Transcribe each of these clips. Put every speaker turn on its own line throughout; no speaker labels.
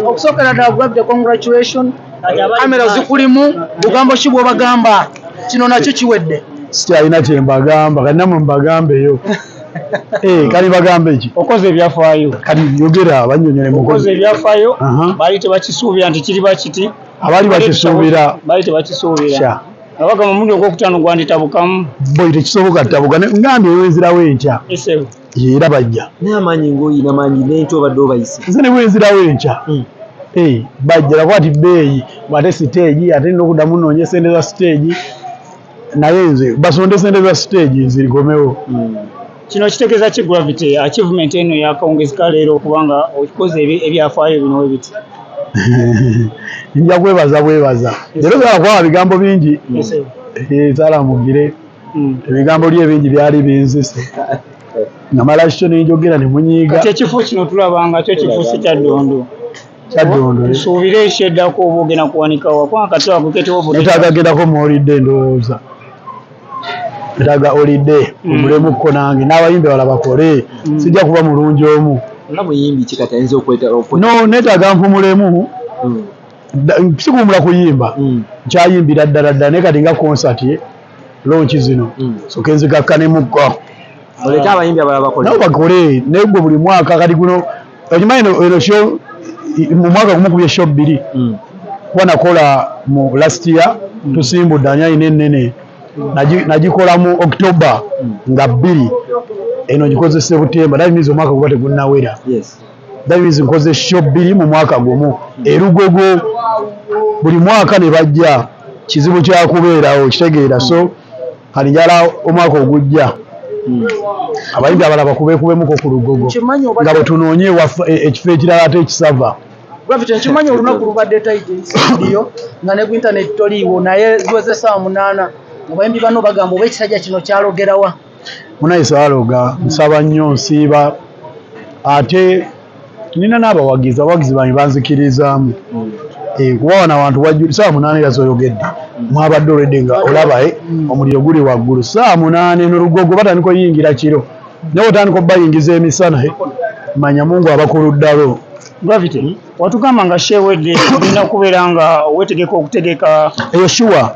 okusookera ddala gravity congratulation kamera zikulimu bugambo ki bwobagamba kino nakyo kiwedde sikyalina
kyembagamba kati namwe mbagambeyo Eh, kali bagambe ki okoze ebyafaayo
kati yogera
abanyonyole mukoze ebyafaayo
bali tebakisuubira nti kiri bakiti abali bakisuubira
bali tebakisuubira
Abaga mu mulundi ogwokutaano gwanditabukamu. Boy tekisoboka
tabuka ngambye wenzirawo enkya. Esebo. Era
bajja.
Naye amaanyi ng'oyina
maanyi n'enkya obadde obayise. Nze ne wenzirawo enkya.
Hmm. Hey, bajja laba ati bbeeyi ate siteegi ate nina okuddamu noonye sente za siteegi naye nze basonde sente za siteegi nzirikomewo. Hmm. Kino
kitegeeza ki Gravity? Achievement eno yakawungezeka leero kubanga okikoze ebyafaayo bino we biti.
Nja kwebaza bwebaza. Leero byala kwaba bigambo bingi. Ezaala eh, mugire. Hmm. Ebigambo lye bingi byali binzise. Namala kikyo ne njogera ne munyiiga. Kati ekifo kino tulaba
nga kyo kifuuse kya ddondo. Kya ddondo. Eh. Tusuubire ekyeddako oba ogenda kuwanika wa kubanga kati wakuketewo obudde. Netaagagendako
muwulidde endowooza. Ndaga olide mm. omulemu ko nange n'abayimbi bala bakole mm. sijja kuba mulungi omu no neetaga mpumulemu mm. sikuwumula kuyimba nkyayimbira ddala ddala naye kati nga konsati lonki zino soke nzigakkanemuko muleke abayimbi abalala bakole nabo bakole naye gwe buli mwaka kati guno okimanyi eno sho mu mwaka gumu kubye sho bbiri hmm. kuba nakola mu last year hmm. tusimbudde ani alina ennene nagikola mu october hmm. nga bbiri eno gikozese butemba that means omwaka guba tegunnawera that means nkoze sho bbiri mu mwaka gumu erugogo buli mwaka ne bajja kizibu kyakubeerawo kitegeera so kati njala omwaka ogujja hmm. abayimbi abalaba kubekubemuko ku lugogo nga bwetunoonye e, ekifo ekirala ate ekisava gravity nkimanyi
olunaku lubadde taitnsiyo nga ne ku intaneti toliiwo naye ziweze saawa munaana abayimbi bano bagamba oba ekisajja kino kyalogerawa munaye
saaloga nsaba nnyo nsiiba ate nina n'abawagizi abawagizi bange banzikiriizaamu mm. eh, kuba wano abantu wajjuli saawa munaana era zoyogedde mm. mwabadde olwedde nga olabae eh, mm. omuliro guli waggulu saawa munaana eno lugogo batandika oyingira kiro naye otandika obayingiza emisana eh, manya mungu abakuluddalo gravity
watugamba nga shewedde olina okubeera nga wetegeka okutegeka eyo shuwa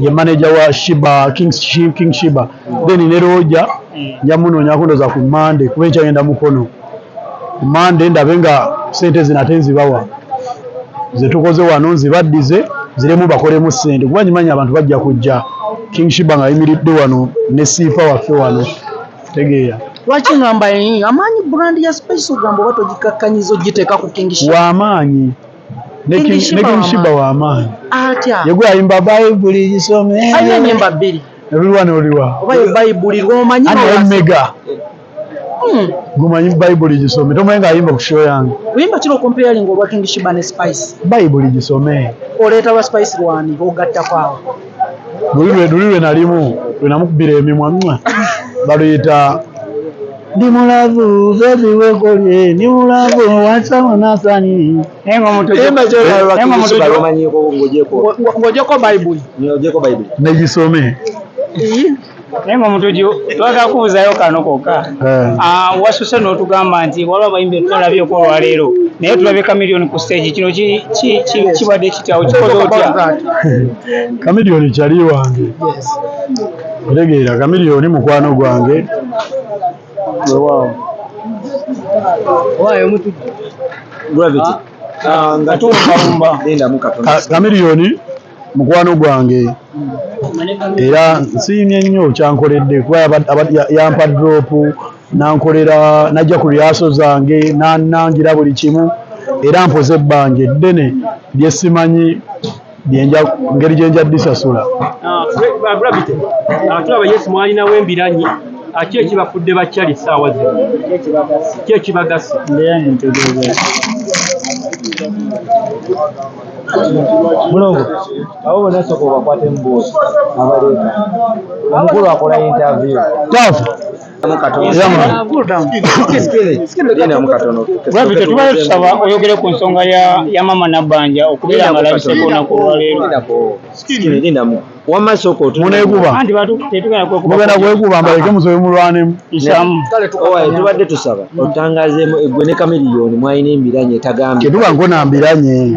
ye manager wa shiba king, king shiba then ne roja nja munoonya kundoza ku mande kuba enkyagenda mukono ku mande ndabe nga sente zino ate nzibawa zetukoze wano nzibaddize ziremu bakolemu sente kuba nyimanyi abantu bajja kujja king shiba nga ayimiridde wano ne siifa waffe wano tegeera lwaki ngamba
amaanyi brand ya special gamba oba togikakkanyiza ogiteeka ku king shiba wamaanyi
nekimushiba wamaanyi atya yegwe
ayimba
bayibuli gisome ayo enyimba bbiri
eruliwa noliwa
oba ye bayibuli
lwomanyi mega
hmm. gumanyi bayibuli gisome tomanyi nga ayimba ku show yange oyimba kiro comparing
olwa king shiba ne spice bayibuli gisome
oleeta lwa spice
lwani ogattako awo luli
lwe nalimu lwenamukubira emimwa baluyita Ndi mulavu baby wekolye ndi mulavu wansaba nasani ng'ogyeko
bayibuli negisome
naye
nga omutuju twagala kubuzayo kano kokka eh. ah, wasuse n'otugamba nti waliwo abayimbi etutalabyeko olwaleero naye tulabye kamiliyoni ku stage kino kibadde kityawo kikoze otya
kamiliyoni kyali wange Otegeera Chameleone mukwano gwange wewaawo
owaayo omutujju gravity ah, ah, nga tuwumbawumba lindamu katono Chameleone
mukwano gwange era nsiimye nnyo kyankoledde kuba yampa drop nankolera najja ku lyaso zange nanangira buli kimu era mpoze ebbanja eddene lyesimanyi ngeri gye nja bisasula ah, ah,
tulaba yesu mwalinawo embiranyi ah, ki ekibafudde bakyali saawa zino ki ekibagasa
mulongo abo bona soka obakwata embuuzi abaleeta omukulu akola interview taafu
Gravity tubale tusaba oyogere ku nsonga ya mama nabbanja okubeera nga labiseko naku olwaleero
wamma soko tuneguba anti batu
tetugana
kwe kuba na kwe kuba mbaleke
musobe mulwane isamu kale
tukawa tubadde
tusaba otangazemo egwe ne kamiliyoni mwayina embiranye tagambye tuba ngona mbiranye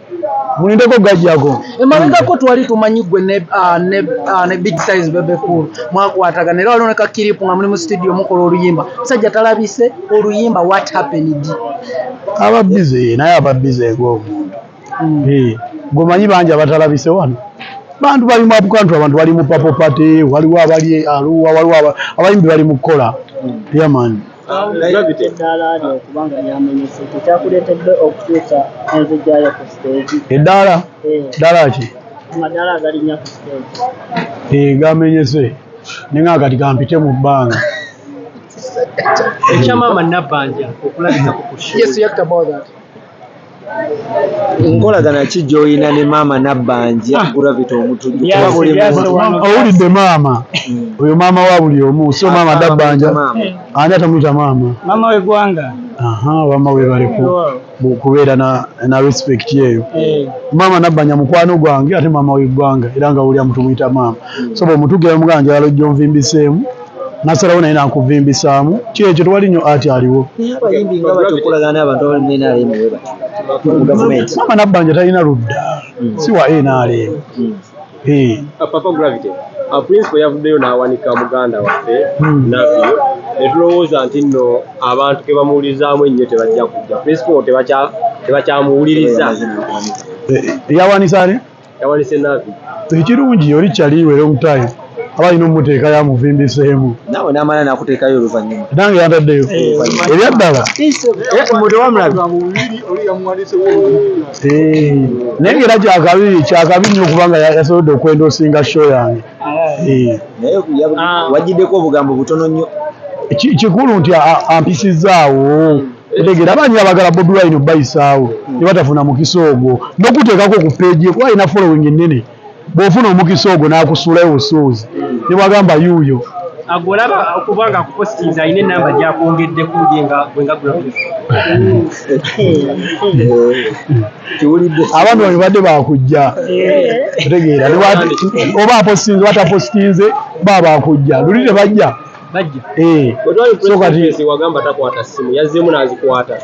mulindeko gajjago emabegako twali
tumanyi gwe ne ah, ah, big size bebe cool mwakwatagana era waliwo ne kakiripu nga muli mu studio mukola oluyimba musajja talabise oluyimba what happened aba
bize naye aba bize ng'omuntu hmm. eh, gwemanyi bangi abatalabise wano bantu bali mu apukantu abantu bali mu papopate waliwo abali aluwa waliwo abayimbi bali mu kukola hmm. yamani Gravity eddaala lyo okuba nga
lyamenyese kyekyakuleetedde okukyusa enzijja yo ku siteegi? Eddaala?
Eh. Ddaala ki? Amadaala
agalinnya ku siteegi. Eh, gamenyese
naye nga kati kampite mu bbanga.
Ekya maama Nabbanja okulabikako ku show. Yes, you have to about that.
nkolagana ki gy'olina ne maama nabbanja ah. gravity omutujjuowulidde maama
hmm. oyo maama wa buli omu si maama nabbanja ani atamuyita maama maama
wegwanga wama
webaleko kubeera na respect eyo eh. maama nabbanja mukwano gwange ate maama wegwanga era nga wulira mutumuyita maama hmm. so bwemutugera mugana njagala ojja onvimbiseemu nasalawo naye nankuvimbisaamu ki ekyo tewali nyo ati aliwo
mama nabbanja talina
ludda hmm. si wa nrm hmm.
eh. ah, principal yavuddeyo n'awanika muganda waffe hmm. navio netulowooza nti nno abantu ke bamuwulirizaamu ennyo tebajja kujja principal tebakyamuwuliriza eh,
eh, yawanisane yawalise
nabi ekirungi yoli
kyaliwe long time aba alina omuteekayo amuvimbiseemu nawe namala
nakuteekayo oluvanyuma nange yantaddeyo
eh, ebya ddala eh, naye ngaera kyakabi kyakabi nnyo okubanga yasobodde okwenda osinga show yange eh.
ah. wajjiddeko obugambo butono nnyo kikulu
nti ampisizaawo Otegera abanyi abagala Bobi Wine obayisaawo hmm. ne batafuna mukisa ogwo n'okuteekako ku peegi kuba alina following ennene bw'ofuna omukisa ogwo n'akusuulayo busuuzi hmm. ne bwagamba yuuyo agolaba
okuba nga akupostinze alina enamba gyakwongeddeko
ye nga abantu bano badde bakujja otegeera oba apostinze batapostinze ba bakujja luli tebajja bajja eh so kati
wagamba takwata simu yazemu nazikwata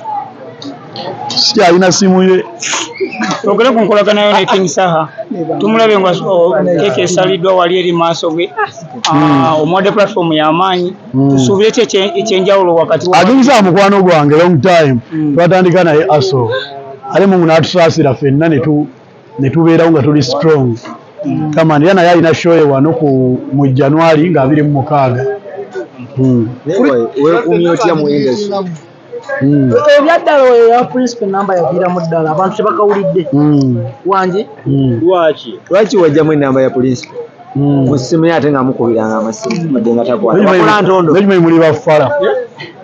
si alina simu ye ogere
ku nkolagana yo ne king saha tumulabe nga keke esaliddwa wali eri maaso ge hmm. ah, omwadde platform yamaanyi hmm. tusuubire ki ekyenjawulo wakati aginza mukwano
gwange long time hmm. twatandika naye aso ale mungu natusaasira fenna netu ne tubeerawo nga tuli strong kamani era naye alina shoye wano ku mu january nga abiri mu mukaaga hmm.
weekuumye otya mu industry hmm.
ebyaddala oyo ya principal enamba yaviiramu ddala abantu tebakawulidde hmm. wangi lwaki
lwaki wajjamu enamba ya principal musimu ye ate nga mukubiranga amasimu madde nga takwata ntondo muli bafala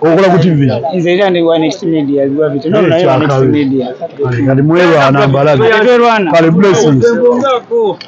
okola ku
tv nze era ndi wa next
media lwa bitu no na ya next media
kali
mwelwa
na mbalaga
kali
blessings